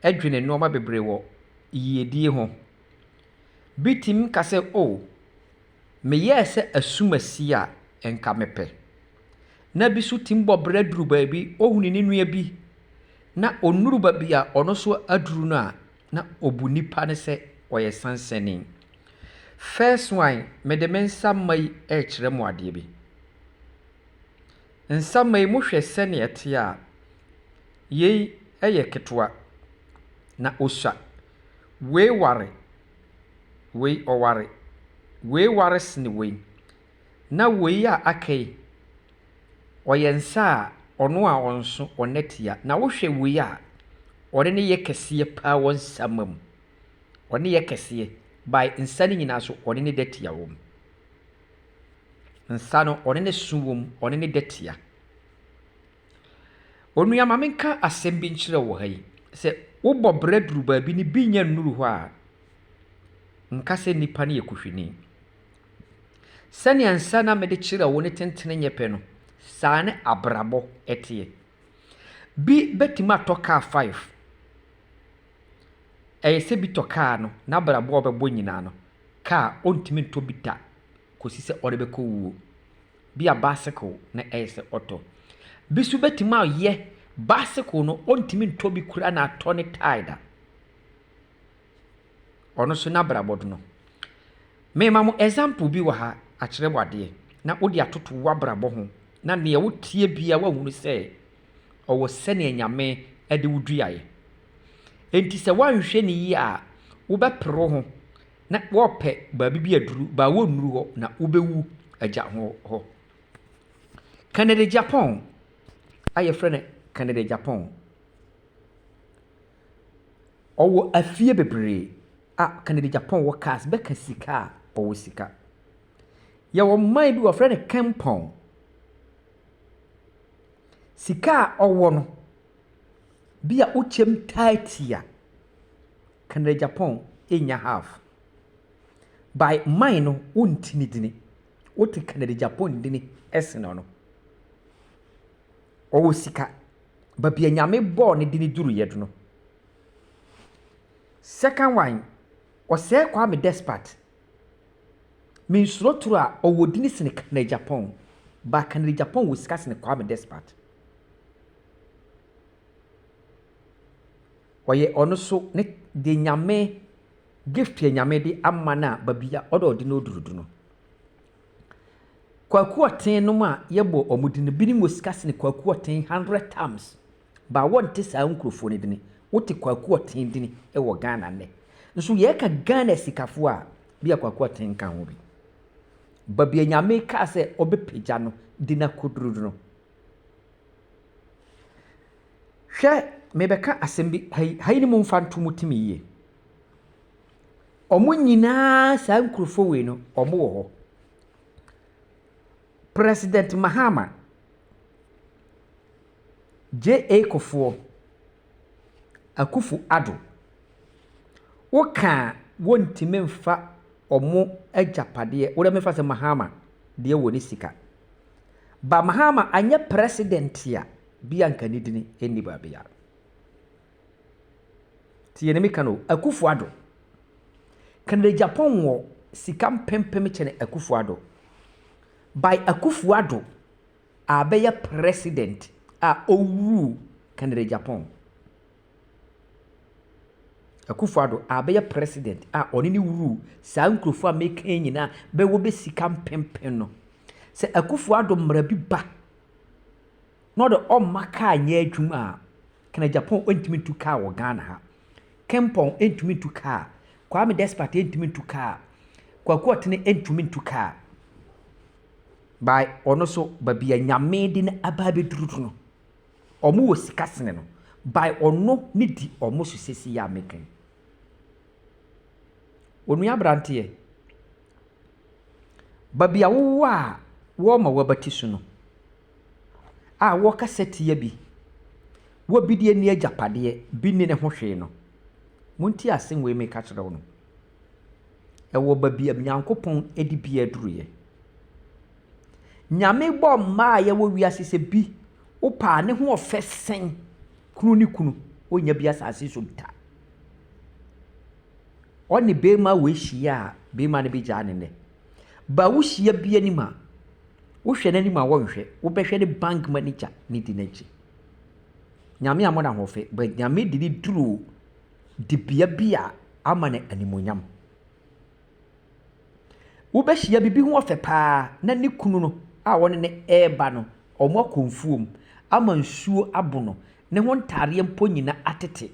dwene nnoɔma bebree wɔ yiedie ho. Bi tumi ka sɛ, O, meyɛɛ sɛ asumasie a nka mepɛ. Na bi nso tumi bɔ bra duru baabi, ɔhunu ne nua bi na ɔnnuru baabi a ɔno nso aduru no a, na ɔbu nipa no sɛ ɔyɛ sansani. First one, mede me nsa mma yi rekyerɛ mo adeɛ bi. Nsaman yi mu hwɛ sɛnea ɛte a, yei yɛ ketewa, na ɔsua. Wei ware, wei ɔware, wei ware sene wei, na wei a aka yi, ɔyɛ nsa a ɔno a ɔnso, ɔnna tia. Na wohwɛ wei a, ɔne no yɛ kɛseɛ paa wɔ nsaman mu. Ɔne yɛ kɛseɛ by nsa no nyinaa so, ɔne no da tia wɔ mu. Nsa no ɔne ne so wom, ɔne ne dɛ tia. Onua ma menka asɛm bi nkyerɛ wo wɔ ha yi. Sɛ wobɔ bra duru baabi na ebi nnya nnuru hɔ a, nka sɛ nnipa no yɛ kuhwini. Sɛnea nsa no a mede kyerɛ wo no tentene nyɛ pɛ no, saa ne abrabɔ teɛ. Bi bɛtumi atɔ kaa five, ɛyɛ sɛ bi tɔ kaa no, n'abrabɔ a ɔbɛbɔ nyinaa no, kaa ɔntumi ntɔ bi da kɔsi sɛ ɔde bɛkɔ wuo. Bi a bicycle na ɛyɛ sɛ ɔtɔ. Bi nso bɛtumi ayɛ bicycle no ɔntumi ntɔ bi koraa na atɔ ne tae da. Ɔno so n'abrabɔ do no, merema mo example bi wɔ ha akyerɛ mo adeɛ na wode atoto w'abrabɔ ho na neɛ woteɛ biara woahunu sɛ ɔwɔ sɛdeɛ Nyame de wo duaeɛ. Enti sɛ woanhwɛ no yie a wobɛpere wo ho na wɔɔpɛ baabi bi aduru baa wonnuru hɔ na wobɛwu agya ho hɔ. Kanada Gyapɔn a yɛfrɛ no Kanada Gyapɔn. Ɔwɔ afie bebree a Kennedy Agyapong wɔ cars bɛka sika a ɔwɔ sika. Yɛwɔ man bi wɔfrɛ no Kempong. Sika a ɔwɔ no, bi a wokyɛm taati a, Kennedy Agyapong nnya half. By man no wonte ne dini. Wote Kennedy Agyapong dini sen ɔno. Ɔwɔ sika. Babi a Nyame bɔɔ no de no duruiɛ do no. Second one, ɔsɛɛ Kwame Despard. Mensuro toro a, ɔwɔ dini sene Kennedy Agyapong. But Kennedy Agyapong wɔ sika sene Kwame Despard. Ɔyɛ ɔno so ne de Nyame gift a Nyame de ama no a babi a ɔde ɔde no duru do no. Kwakuɔten nom a yɛbɔ ɔmo dini, binom wɔ sika sene kwakuɔten hundred times, but wɔnte saa nkurofoɔ no dini. Wote kwakuɔten dini wɔ Ghana nnɛ. Nso yɛɛka Ghana asikafoɔ a, bi a kwakuɔten nka ho bi. Baabi a Nyame kaa sɛ ɔbɛpagya no de no akɔduru no no. Hwɛ, mebɛka asɛm bi ha yi, ha yi ne momfa nto mo tirim yie. wɔn nyinaa saa nkurɔfoɔ wei no wɔn wɔ hɔ. President Mahama, JA Kufuor, Akuffo Addo, wo kaa wɔntumi nfa wɔn agyapadeɛ, wo deɛ me mfa sɛ Mahama deɛ wɔ ne sika. But Mahama anyɛ president a, bia nka ne dini nni baabiara. Tie ne meka no o, Akufo Addo. Canada Japan wɔ sika mpempem kyɛn Akufo Addo. By Akufo Addo a bɛyɛ president a ɔwuu Canada Japan. Akufo Addo a bɛyɛ president a ɔne ne wuu saa nkurɔfoɔ a meka yi nyinaa bɛwɔ bɛ sika mpempem no. Sɛ Akufo Addo mmara bi ba na ɔde ɔmma kaa nyɛ adwuma a, Kanagyapɔn ntumi ntu kaa wɔ Ghana ha. Kempɔn ntumi ntu kaa. Kwame Despite ntumi ntu kaa. Kwaku Ɔtene ntumi ntu kaa. By ɔno so baabi a Nyame de no aba abɛduru no, ɔmo wɔ sika sene no. By ɔno ne di ɔmo so sesei a meka yi. Onua abranteɛ. Baabi a wɔwɔ a wɔrema wɔabatiso no, a wɔrekasa tia bi. Wɔbedie ne agyapadeɛ, bi nni ne ho hwee no, monte asem wei meka kyerɛ wo no. Ɛwɔ baabi a Nyankopɔn de bi aduruiɛ. Nyame bɔɔ mmaa a yɛwɔ wiase sɛ bi wopɛ a ne ho ɔfɛ sen kunu ne kunu, wonnya bi asase so da. ɔne barima wei hyia a, barima no bɛgyaa no nnɛ. Ba wohyia bi anim a, wohwɛ n'anim a wɔnhwɛ, wobɛhwɛ ne bank manager ne di n'akyi. Nyame a mo na hofe, but Nyame de ne duru dibea bi a ama no animonyam. Wobɛhyia bibi ho ɔfɛ paa na ne kunu no a wɔne ne ɛreba no, wɔn akɔ mfuom ama nsuo abono, ne ho ntaadeɛ mpo nyina atete.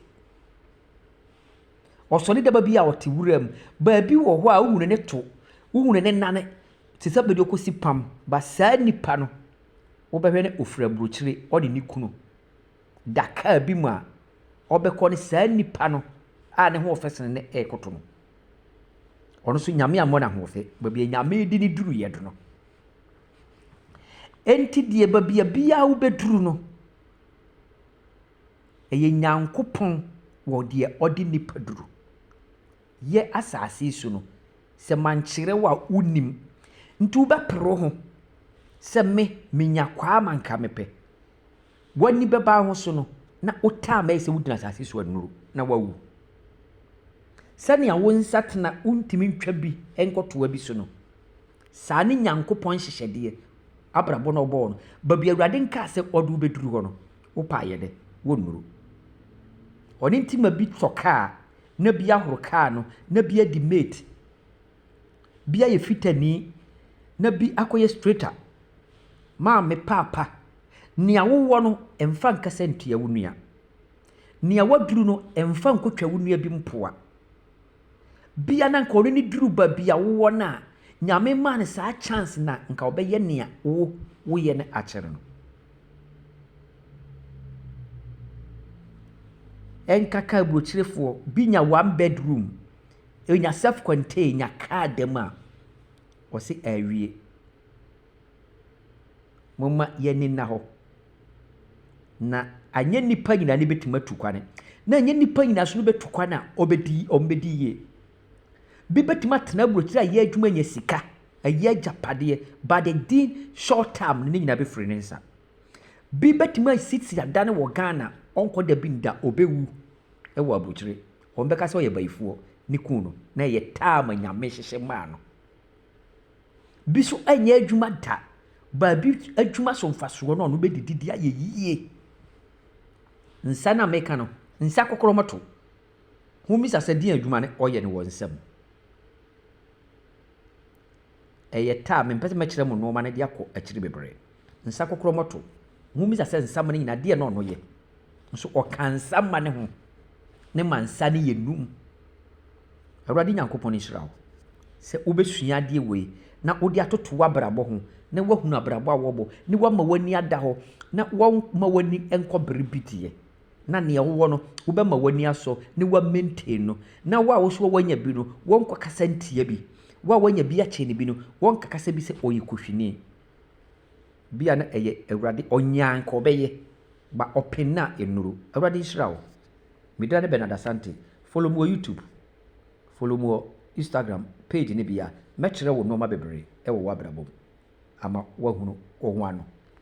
Ɔsɔre da ba bi a ɔte wura mu. Baabi wɔ hɔ a wohunu ne to, wohunu ne nan te sɛ baabi a ɔkɔsi pam. Ba saa nipa no, wobɛhwɛ no ɔfiri aburokyire, ɔne ne kunu da kaa bi mu a ɔbɛkɔ ne saa nipa no a ne hoɔfɛ sene no rekɔto no. Ɔno nso Nyame ammɔ no ahoɔfɛ, baabi a Nyame de ne duruiɛ do no. Enti deɛ baabi a biara wobɛduru no, Ɛyɛ Nyankopɔn wɔ deɛ ɔde nnipa duru yɛ asase yi so no. Sɛ mankyerɛ wo a wonnim. Nti wobɛpere wo ho sɛ me menya kwaa ma nka mepɛ. W'ani bɛba wo ho so no na wo time bɛyɛ sɛ wogyina asase so anuru na woawu. Sɛnea wo nsatena wontumi ntwa bi nkɔtoa bi so no, saa ne Nyankopɔn nhyehyɛdeɛ, abrabɔ no a ɔbɔɔ no. Baabi a Awurade nkaa sɛ ɔde wo bɛduru hɔ no, Wopɛ a yɛ dɛ, wonnuru. Ɔno nti ma bi tɔ kaa na bi ahoro kaa no na bi adi mate. Bi ayɛ fitani na bi akɔyɛ straighter. Maame paapa, nea wowɔ no mfa nkasa ntia wo nua. Nea woaduru no mfa nkotwa wo nua bi mpoa. Bia na nka ɔno ne duru baabi a wowɔ no a, Nyame maa no saa chance na nka ɔbɛyɛ nea wo woyɛ no akyɛr no. Ɛnkaka aburokyerefoɔ, bi nya one bedroom, ɔnya self contain, nya car da mu a, ɔse awie. Momma yɛn ani nna hɔ. Na anyɛ nnipa nyinaa na ebetumi atu kwan, na anyɛ nnipa nyinaa nso na obetu kwan a obedi wɔbedi yie. Bi betumi atena aburokyire ayɛ adwuma anya sika, ayɛ agyapadeɛ, but the din short term no ne nyinaa befiri ne nsa. Bi betumi asisi adan wɔ Ghana, ɔnkɔ da bi nda, obewu wɔ aburokyire. Wɔbɛka sɛ ɔyɛ bayifoɔ, ne kunu no, na ɛyɛ term a Nyame hyehyɛ maa no. bi nso nyɛ adwuma da. Baabi adwuma so mfasoɔ no a wɔbɛdidi de ayɛ yie. Nsa no a meka no, nsa kokorɔmɔto. Mobisa sɛ deɛn adwuma na wɔyɛ no wɔ nsa mu? Ɛyɛ ta a, mempɛ sɛ mɛkyerɛ mo nnoɔma no de akɔ akyiri bebree. Nsa kokorɔmɔto. Mobisa sɛ nsa mu no nyinaa deɛn na wɔyɛ? nso ɔka nsa mma ne ho, na ɛma nsa no yɛ num. Awurade Nyankopɔn nhyira wo sɛ wobɛsua adeɛ wei na wode atoto w'abrabɔ ho na woahunu abrabɔ a wɔbɔ ne woama w'ani ada hɔ na wɔma w'ani nkɔ bere bi deɛ na nea wowɔ no wobɛma w'ani asɔ ne wa maintain no na wo a wo so wanya bi no wɔnkɔ kasa ntia bi wo a wanya bi akyɛ ne bi no wɔnkakasa bi sɛ ɔyɛ kohwini Bi a na ɛyɛ Awurade ɔnyaa nka ɔbɛyɛ but ɔpen no a ɛnnuru. Awurade nhyira wo. Me dira ne Bernard Asante. Follow me wɔ YouTube, follow me wɔ Instagram page no bi a mɛkyerɛ wo nnoɔma bebree wɔ w'abrabɔ mu ama woahunu wo ho ano.